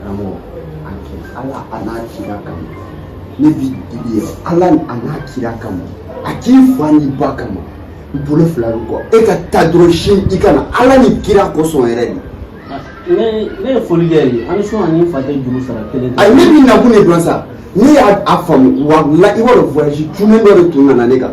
karamɔgɔ a kɛ ala a n'a kira kama ne b'i deli yɛrɛ ala a n'a kira kama a k'i fa n'i ba kama n bolo fila bɛ kɔ e ka taa dɔrɔn sini ka na ala ni kira kosɔn yɛrɛ de ne ne ye foli kɛ ye an sɔn ani fa tɛ juru sara kelen ayi ne b'i nakun de dɔn sa ne y'a faamu walahi i b'a dɔn voyage cunnen dɔ de tun nana ne kan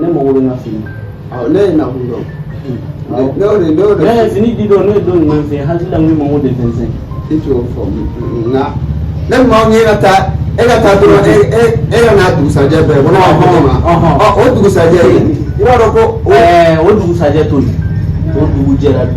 ne mago bɛ n ka fini ne y'i nakun dɔn n'o de n'o de ne fini di don ne ye don ɲuman fɛ hakili la n ko mago de fɛn fɛn e t'o fɔ nka ne maa min ye ka taa e ka taa dɔrɔn e e e ka na a dugusajɛ bɛɛ ko ne b'a fɔ ma ɔ o dugusajɛ i b'a dɔn ko o dugusajɛ to yen o dugu jɛra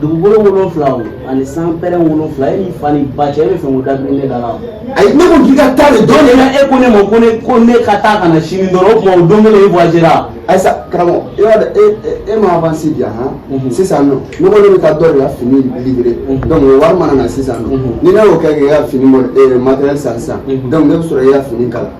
dugukolo wolonfila o ani san pɛrɛn wolonfila e ni fa ni ba cɛ e bɛ fɛn ko dabiri ne da la ayi ne ko k'i ka taa de dɔn de la e ko ne ma ko ne ko ne ka taa ka na sini dɔrɔn o tuma o don kelen e voyagera ayi sa karamɔgɔ e b'a dɔn e e ma avance di yan han sisan nɔ ne ko ne bɛ taa dɔ de ka fini livrer donc o wari mana na sisan nɔ ni ne y'o kɛ k'i ka fini matériel san sisan donc ne bɛ sɔrɔ k'i ka fini kala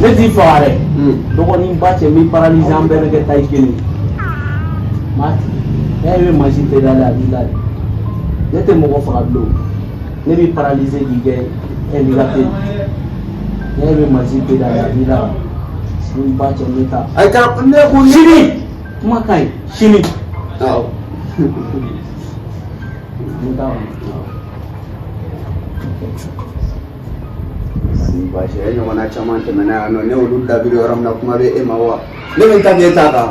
ne t'i faga dɛ dɔgɔnin ba cɛ n b'i paralyser an bɛɛ bɛ kɛ taille kelen m'a tigi n'a ye mansin tɛ da la a b'i la de ne tɛ mɔgɔ faga bilen ne b'i paralyser k'i kɛ handicapé n'a ye mansin tɛ da la a b'i la n ba cɛ n bɛ taa. ayi ka ne ko sini kuma ka ɲi sini. awɔ. n bɛ taa. Baasi e ɲɔgɔnna caman tɛmɛna yan nɔ ne olu dabiri yɔrɔ min na kuma bɛ e ma wa ne bɛ ta e ta kan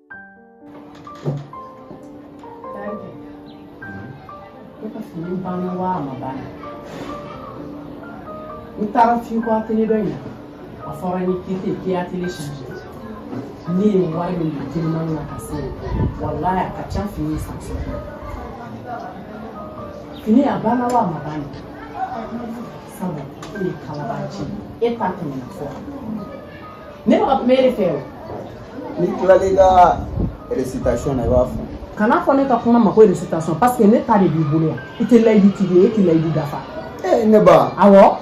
n taara f'i ka atelier dɔ in na a fɔra ni kite k'i atelier change ne ye wari min don teliman na ka se walahi a ka ca fini san sɔngɔ fini a banna wa a ma ban de sabu e ye kalabanci e ta tɛmɛna fɔ Ne bɛ ka kuma e de fɛ o. N'i tilala i ka récitation na i b'a fɔ. Kana fɔ ne ka kuma ma ko récitation parce que ne ta de b'i bolo yan. I tɛ layidutigi ye e tɛ layidu dafa. Ee ne ba. Awɔ.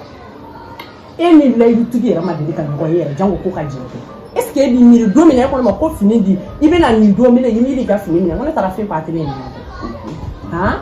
E ni layidutigi yɛrɛ ma deli ka ɲɔgɔn ye yɛrɛ janko ko ka jɛn kɛ. Est ce que e b'i miiri don min na e ko ne ma ko fini di i bɛna nin don minɛ i miiri i ka fini minɛ n ko ne taara f'i ka Atelier in na. Han.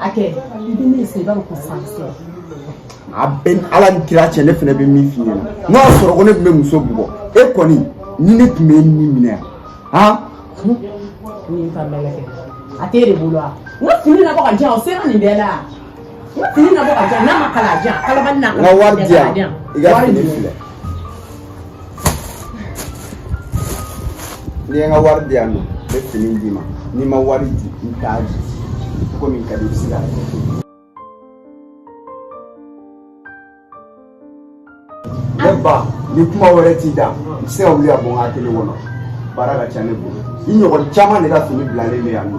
a kɛ i bɛ min sen i b'a dɔn ko san sera a bɛ ala ni kira cɛ ne fana bɛ min f'i ɲɛna n'o y'a sɔrɔ ko ne tun bɛ muso bugɔ e kɔni ni ne tun bɛ e ni minɛ han ni ka mɛlɛ kɛ a t'e de bolo wa n ka fini nabɔ k'a di yan o sera nin bɛɛ la n ka fini nabɔ k'a di yan n'a ma kala a di yan kalabali na n ka wari di yan i ka fini filɛ N'i ye n ka wari di yan nɔ n bɛ fini d'i ma n'i ma wari di n t'a di ko min ka di i bɛ se k'a kɛ ne ba ni kuma wɛrɛ t'i da i bɛ se ka wuli ka bɔ n ka atelier kɔnɔ baara ka ca ne bolo i ɲɔgɔn caman de ka fini bilalen bɛ yan nɔ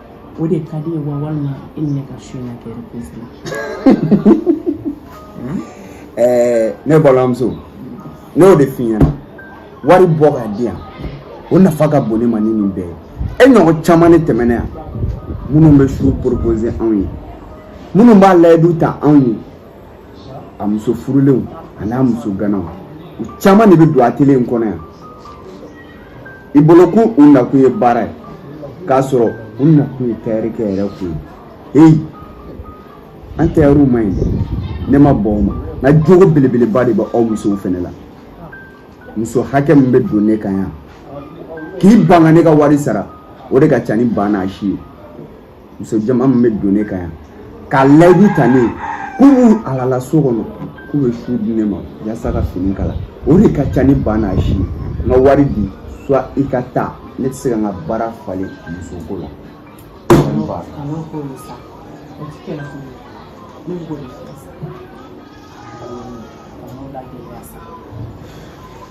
o de ka d'i ye wa walima e ni ne ka su in na kɛ reprise la ɛɛ ne balimamuso ne y'o de f'i ɲɛna wari bɔ k'a di yan o nafa ka bon ne ma ni nin bɛɛ ye e ɲɔgɔn caman ne tɛmɛna yan minnu bɛ su propose anw ye minnu b'a layidu ta anw ye a muso furulenw an'a muso ganaw u caman de bɛ don atelier in kɔnɔ yan i bolo ko u nakun ye baara ye k'a sɔrɔ u nakun ye tayɛrikɛ yɛrɛkun ye heyi an tayɛriw man ɲi dɛ ne ma bɔn o ma nka jogo belebeleba de bɛ aw musow fɛnɛ la muso hakɛ min bɛ don ne kan yan k'i ban ka ne ka wari sara o de ka ca ni ba n'a si ye muso jama min bɛ don ne kan yan ka layidu ta ne ye k'u b'u alala so kɔnɔ k'u bɛ su di ne ma yasa ka fini kala o de ka ca ni ba n'a si ye n ka wari di soit i ka taa ne tɛ se ka n ka baara falen musoko la.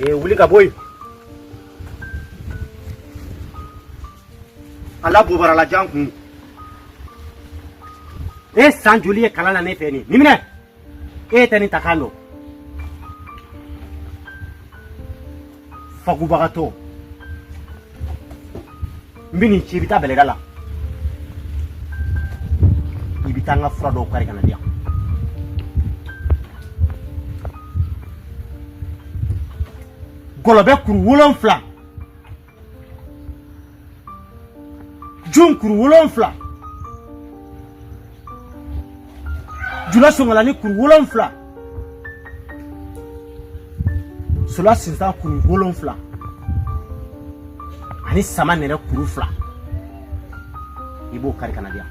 Eh, wuli ka bɔ yen. A la bobara la jan kun. E san joli ye kalan na ne fɛ nin nin minɛ e tɛ nin ta kan dɔn fakubagatɔ n bɛn'i ci i bɛ taa bɛlɛda la i bɛ taa n ka fura dɔw kari ka n'a di yan gɔlɔbɛ kuru wolonfila jun kuru wolonfila jula sungalani kuru wolonfila sula sinsan kuru wolonfila ani samanɛrɛ kuru fila i b'o kari ka n'a di yan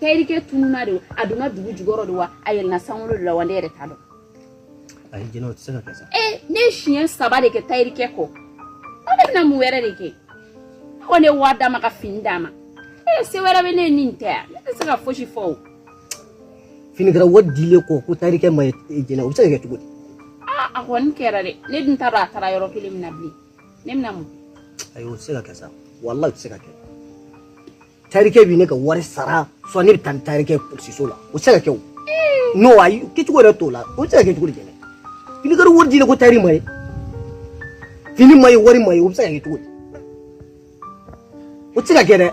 tayirikɛ tununa de a donna dugu jukɔrɔ de wa a yɛlɛna sankolo de la wa ne yɛrɛ t'a dɔn ayi jɛnɛ o tɛ se ka kɛ sa ee ne ye siɲɛ saba de kɛ tayirikɛ kɔ o ne bɛna mun wɛrɛ de kɛ ne kɔni ye wari d'a ma ka fini d'a ma ee se wɛrɛ bɛ ne ye ni nin tɛ yan ne tɛ se ka fosi fɔ o finikala wari dilen kɔ ko tayirikɛ ma ye jɛnɛ o bɛ se ka kɛ cogo di aa a kɔni kɛra dɛ ne dun t'a dɔn a taara yɔrɔ kelen min na bilen ne bɛna mun ayi o tɛ se ka kɛ sa walayi o tɛ se ka kɛ tayirikɛ bɛ ne ka wari sara sɔ ne bɛ taa ni tayirikɛ polisiso la o tɛ se ka kɛ o n'o ayi kɛcogo yɛrɛ t'o la o tɛ se ka kɛ cogo di jɛnɛ finikala wari dilen kɔ tayiri ma ye fini ma ye wari ma ye o bɛ se ka kɛ cogo di o tɛ se ka kɛ dɛ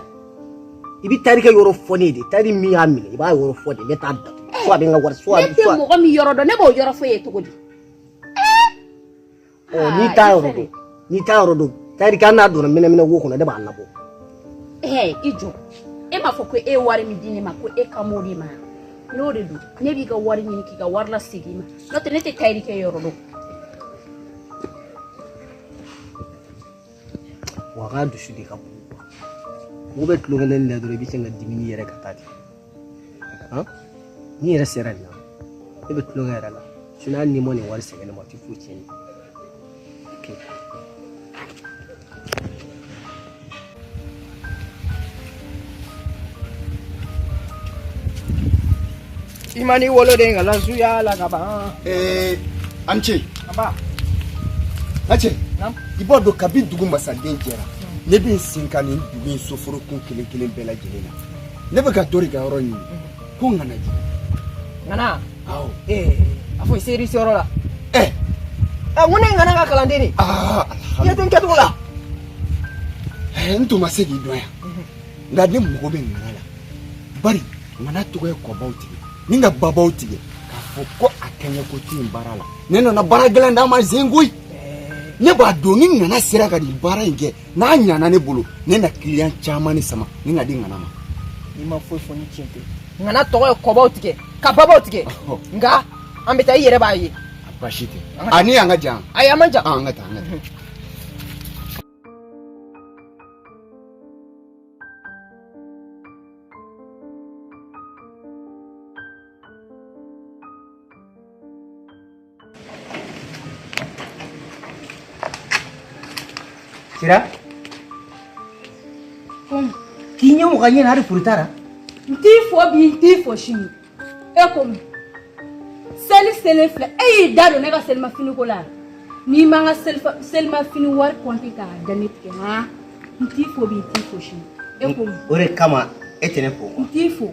i bɛ tayirikɛ yɔrɔ fɔ ne ye de tayiri min y'a minɛ i b'a yɔrɔ fɔ de ne t'a datugu fo a bɛ n ka wari fo a bɛ ne tɛ mɔgɔ min yɔrɔ dɔn ne b'o yɔrɔ fɔ e ye cogo di n'i t'a yɔrɔ dɔn n'i t'a yɔrɔ dɔn tayirikɛ hali n'a donna mɛnɛmɛnɛ wo kɔnɔ ne b'a labɔ ee i jɔ e m'a fɔ ko e ye wari min di ne ma ko e kan b'o de ma n'o de don ne b'i ka wari ɲini k'i ka wari lasegin ma n'o tɛ ne tɛ tayirikɛ yɔrɔ dɔn wa a ka dusu de ka bon mɔgɔ bɛ tulon kɛ ne la dɔrɔn i bɛ sin ka dimini yɛrɛ ka taa ten n'i yɛrɛ sera nin na ne bɛ tulonkɛ yɛrɛ la sinɔn hali n'i ma nin wari segin ne ma o tɛ foyi tiɲɛ i ma n'i woloden ka lasuya la ka ban. ee a ni ce. a ba. a cɛ. i b'a dɔn kabi dugu masaden jɛra ne bɛ n sen kan nin dugu in soforokun kelen kelen bɛɛ lajɛlen na. ne bɛ ka dɔ de ka yɔrɔ ɲini ko ŋana ju ŋana awɔ ee a fɔ i sera i seyɔrɔ la ɛ ɛ n ko ne ye ŋana ka kalanden de ye den kɛcogo la ɛ n tun ma se k'i dɔn yan nka ne mago bɛ ŋana la bari ŋana tɔgɔ ye kɔbaw tigɛ ni ka babaw tigɛ k'a fɔ ko a kɛɲɛko tɛ yen baara la ne nana baara gɛlɛn d'a ma zen koyi ne b'a dɔn ni ŋana sera ka nin baara in kɛ n'a ɲana ne bolo ne na kiliyan caman de sama ni ka di ŋana ma n'i ma foyi fɔ ni tiɲɛ tɛ ŋana tɔgɔ ye kɔbaw tigɛ ka babaw tigɛ nka an bɛ taa i yɛrɛ b'a ye basi tɛ a ni yan ka jan ayi a man jan an ka taa an ka taa Sira? Ko mun? K'i ɲɛ mɔgɔ ɲɛ na hali foli t'a la? N t'i fo bi n t'i fo sini. E ko mun? Seli selen filɛ e y'i da don ne ka selimafini ko la n'i ma n ka selimafini wari kɔnti k'a da ne tɛgɛ han n t'i fo bi n t'i fo sini e ko o de kama e tɛ ne fo n t'i fo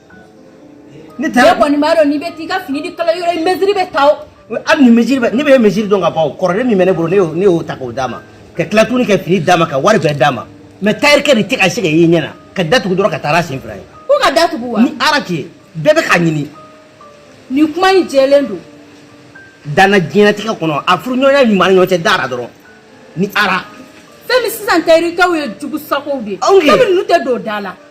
ne taara kɔni b'a dɔn n'i bɛ t'i ka fini di kala yɔrɔ i mesiri bɛ ta o hali ni mesiri bɛ ne bɛ mesiri dɔn ka ban o kɔrɔlen min bɛ ne bolo ne y'o ne y'o ta k'o d'a ma ka tila tuguni ka fini d'a ma ka wari bɛɛ d'a ma mɛ tayirikɛ de tɛ ka se ka ye ɲɛ na ka datugu dɔrɔn ka taa a sen fila ye ko ka datugu wa ni ala tɛ bɛɛ bɛ k'a ɲini nin kuma in jɛlen don danna diɲɛnatigɛ kɔnɔ a furuɲɔgɔnya ɲuman ni ɲɔgɔn cɛ dara dɔrɔn ni ara fɛn min sisan tayirikɛw ye jugu sagow de ye fɛn min ninnu tɛ don da la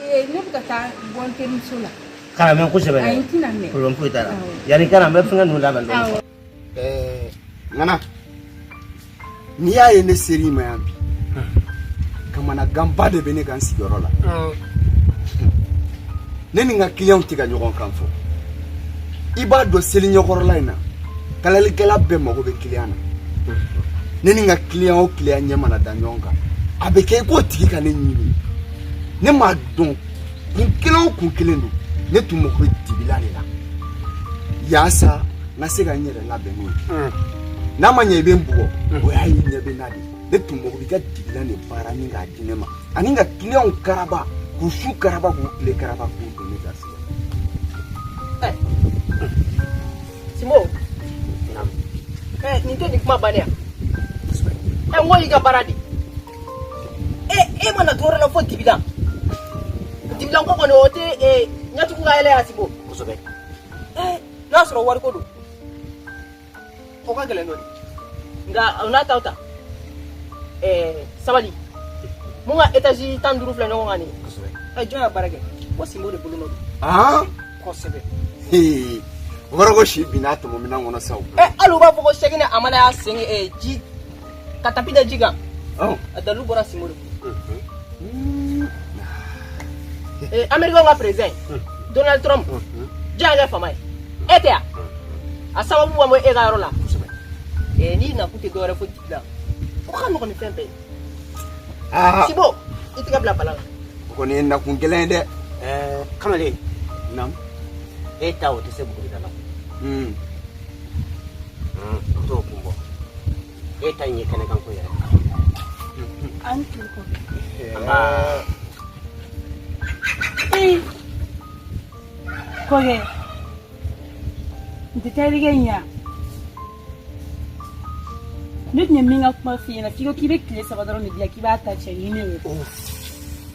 ee ne bɛ ka taa bɔ n terimuso la kana mɛɛn kosɛbɛ ayi n tɛna mɛɛn problème foyi t'a la Awɔ. yanni i ka na n bɛ fɛngɛ ninnu labɛn dɔɔni awɔ Ɛɛ, ŋana n'i y'a ye ne sera i ma yan bi kamanaganba de bɛ ne kan n sigiyɔrɔ la ne ni n ka kiliyanw tɛ ka ɲɔgɔn kan fɔ i b'a dɔn seli ɲɛkɔrɔla in na kalalikɛla bɛɛ mago bɛ kiliyan na ne ni n ka kiliyan o kiliyan ɲɛ mana da ɲɔgɔn kan a bɛ kɛ i k'o tigi ka ne ɲini ne m'a dɔn kun kelen o kun kelen don ne tun mago bɛ dibilan de la yaasa n ka se ka n yɛrɛ labɛn n'o tɛ n'a ma ɲɛ i bɛ n bugɔ o y'a y'i ɲɛ bɛ n na dɛ ne tun mago b'i ka dibilan de baara ni k'a di ne ma ani n ka kiliyanw karaba k'u su karaba k'u tile karaba k'u don ne ka se sinbo nin tɛ nin kuma bannen yan ɛ n ko y'i ka baara di e e ma na dɔwɛrɛ la fo dibilan dibilan ko kɔni o tɛ ee ɲɛ tugu k'a yɛlɛ ye sinbo kosɛbɛ ee n'a sɔrɔ wariko don o ka gɛlɛn dɔɔni nka o n'a ta o ta ee sabalibugu etazi tan ni duuru filɛ ɲɔgɔn kan nin kosɛbɛ ɛ jɔn y'a baara kɛ o sinbo de bolonɔ don aa kosɛbɛ hee o kɔrɔ ko si binna tɔmɔminɛn kɔnɔ sa o ɛ hali u b'a fɔ ko sɛgini amana y'a sen ee ji ka tapi da ji kan oh. a dalu bɔra sinbo de fɛ mm-hmm. eh, américain ka président mm-hmm. donald trump mm-hmm. jɔn y'a kɛ faama ye e tɛ wa a sababu ma bɔ e ka yɔrɔ la eh, n'i nakun tɛ dɔwɛrɛ fo dibilan o ka nɔgɔn ni fɛn bɛɛ ye ah. sinbo i tɛgɛ bila baara la o kɔni ye nakun kelen ye dɛ eh, kamalen e ta o tɛ se buguri da la hmm. to kun bɔ e ta in ye kɛnɛkan ko yɛrɛ an tun ko kɔkɛ n tɛ taa erige ɲa ne tun ye min ka kuma f'i ɲɛna f'i ko k'i bɛ tile saba dɔrɔn de diya k'i b'a ta cɛ ɲini o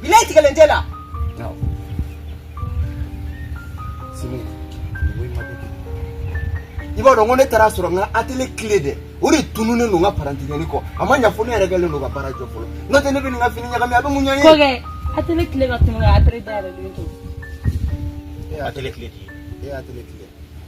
Bi latigɛlen tɛ la i b'a dɔn ko ne taara sɔrɔ n ka atele kile de o de tununen don n ka parantikɛni kɔ a ma ɲafɔ ne yɛrɛ kɛlen don ka baara jɔ fɔlɔ n'o tɛ ne bɛ nin ka fini ɲagami a bɛ mun ɲɛ ye atele kile ka tunu ka atele dayɛlɛlen to atele kile kile e atele kile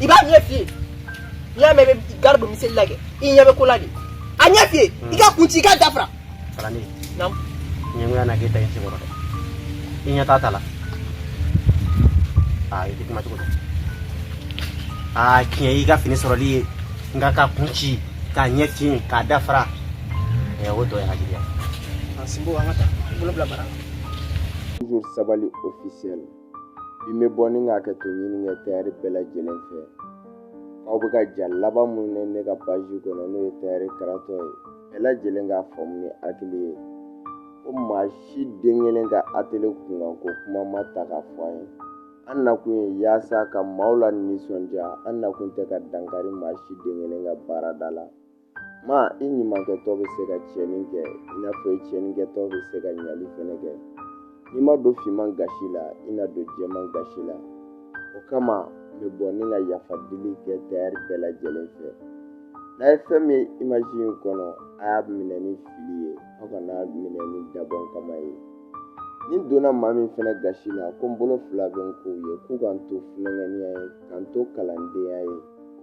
i b'a ɲɛ fiye n'i y'a mɛn i bɛ gari don miseli la kɛ i ɲɛ bɛ ko la de a ɲɛ fiye i k'a kun ci i k'a da fara kalanden naamu ɲɛngoya na k'e ta in sekɔrɔ dɛ i ɲɛ t'a ta la aa i tɛ kuma cogo dɔn aa tiɲɛ y'i ka fini sɔrɔli ye nka k'a kun ci k'a ɲɛ fiye k'a da fara ɛ o dɔ ye hakiliya a sinbo an ka taa bolo bila bara Toujours Sabali officiel. bi n bɛ bɔ ni ka hakɛto ɲini kɛ tayɛri bɛɛ lajɛlen fɛ aw bɛ ka ja laban minnu ye ne ka paji kɔnɔ n'o ye tayɛri karatɔ ye bɛɛ lajɛlen k'a faamu ni hakili ye ko maa si den kelen ka atele kunkan ko kuma ma ta k'a fɔ an ye an nakun ye yaasa ka maaw lanisɔndiya an nakun tɛ ka dankari maa si den kelen ka baarada la ma i ɲumankɛtɔ bɛ se ka tiɲɛni kɛ i n'a fɔ i tiɲɛnikɛtɔ bɛ se ka ɲali fɛnɛ kɛ n'i ma don finman gasi la i na don jɛman gasi la o kama n bɛ bɔ ni ka yafa dili kɛ tayɛri bɛɛ lajɛlen fɛ n'a ye fɛn min ye imaji in kɔnɔ a y'a minɛ ni fili ye aw kan'a minɛ ni dabɔnkama ye ni n donna maa min fɛnɛ gasi la ko n bolo fila bɛ n kɔ ye k'u ka n to funankɛniya ye ka n to kalandenya ye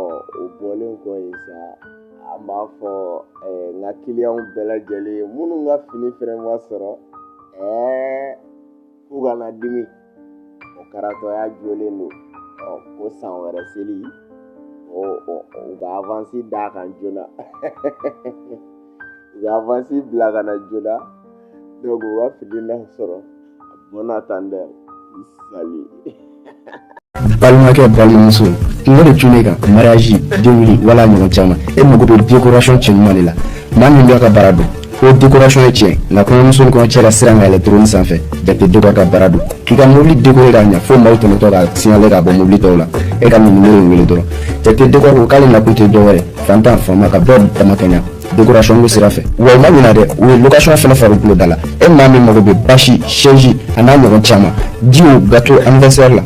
ɔ o bɔlen kɔ yen sa an b'a fɔ eh, n ka kiliyanw bɛɛ lajɛlen minnu ka fini fɛnɛ ma sɔrɔ eh, k'u kana dimi o karatɔya jolen don ɔ ko san wɛrɛ seli o u ka avansi d'a kan joona u ka avansi bila ka na joona donc u ka fini na sɔrɔ bɔnna tan dɛ sali balimakɛ balimamuso kunko de tun kan mariage denkunli wala ɲɔgɔn caman e mago bɛ décoration cɛɲuman de la maa min b'a ka baara dɔn ko décoration ye tiɲɛ nka kɔɲɔmuso ni kɔɲɔcɛ la siran ka yɛlɛ trône sanfɛ Jate déco ka baara don k'i ka mobili décoré k'a ɲɛ fo maaw tɛmɛtɔ k'a signalé k'a bɔ mobili tɔw la e ka nin numéro in wele dɔrɔn Jate déco ko k'ale nakun tɛ dɔwɛrɛ fantan faama ka bɛɛ damakɛɲa dekorasɔn bɛ sira fɛ wa u ma ɲina dɛ u ye lokasɔn fɛnɛ fari tulo da la e maa min mago bɛ basi sɛsi a n'a ɲɔgɔn caman jus gato anniversaire la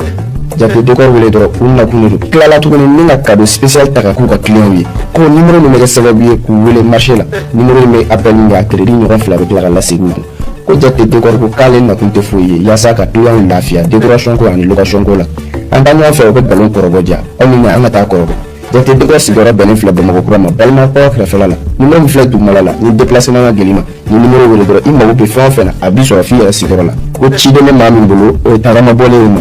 jate dekɔri wele dɔrɔn u nakun de don tilala tuguni ni ka kado spécial ta ka k'u ka kiliyanw ye ko nimero min bɛ kɛ sababu ye k'u wele marché la nimero in bɛ appel min kɛ a crédit ɲɔgɔn fila bɛ tila ka lasegin u kun ko jate dekɔri ko k'ale nakun tɛ foyi ye yaasa ka kiliyanw lafiya décoration ko ani location ko la an taa ɲɔgɔn fɛ u bɛ nkalon kɔrɔbɔ diya aw ni ne an ka taa kɔrɔbɔ Jate dekɔri sigiyɔrɔ bɛnnen filɛ bamakɔkura ma balima kɛrɛfɛ la nimero min filɛ duguma la ni déplacement ka gɛlɛn i ma nimero wele dɔrɔn i mago bɛ fɛn o fɛn na a bɛ sɔrɔ f' i yɛrɛ sigiyɔrɔ la ko ciden ne maa min bolo o ye tagama bɔlen y'i ma